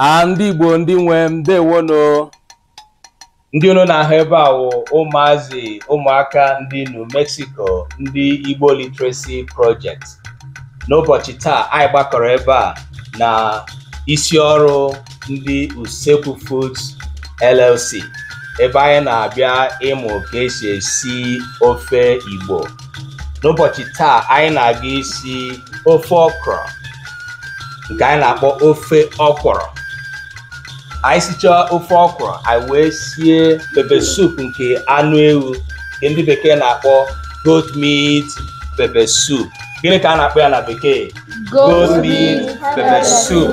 a ndị igbo ndị nwe m ndewono ndị unu na-ahụ ebe a wụ ụmụazị ụmụaka ndị new mexico ndị igbo literacy project n'ụbọchị taa anyị gbakọrọ ebe a na isi ọrụ ndị Usekwu Foods LLC ebe anyị na-abịa ịmụ ka esi esi ofe Igbo n'ụbọchị taa anyị na-aga isi ofe ọkrọ nke anyị na-akpọ ofe ọkwụrụ anyị sichaa ofe ọkwụrụ anyị wee sie pepper soup nke anụ ewu nke ndị bekee na-akpọ goat meat pepper soup gịnị ka a na-akpọ ya na bekee goat meat pepper soup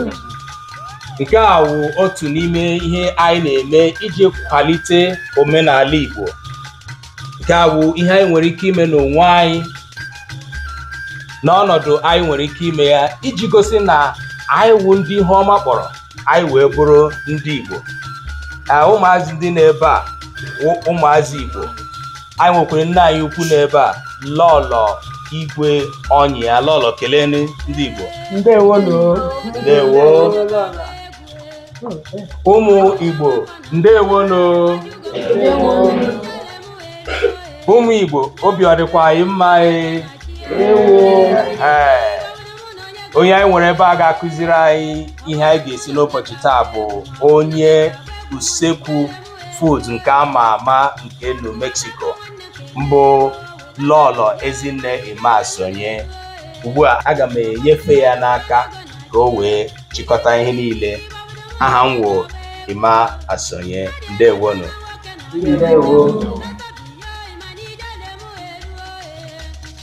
nke a wụ otu n'ime ihe anyị na-eme iji kwalite omenala Igbo nke a wụ ihe anyị nwere ike ime n'onwe anyị n'ọnọdụ anyị nwere ike ime ya iji gosi na anyị wụ ndị ihe ọma kpọrọ anyị wee bụrụ ndị Igbo ụmụazị ndị n'ebe a wụ ụmụazị Igbo anyị nwekwara nne anyị ukwu n'ebe a lọlọ igwe onyia lọlọ kelee ndị igbo ndewo ndewo ụmụ igbo ndewo ụmụ igbo obi ọ dịkwa anyị mma e? ee onye anyị nwere ebe a ga-akụziri anyị ihe anyị ga-esi n'ụbọchị taa bụ onye usekwu food nke a ma ama nke New Mexico mbụ Lọlọ Ezinne Emma Asonye ugbu a aga m enyefe ya n'aka ka o wee chịkọta ihe niile aha m wụ Emma Asonye ndewonu ndewo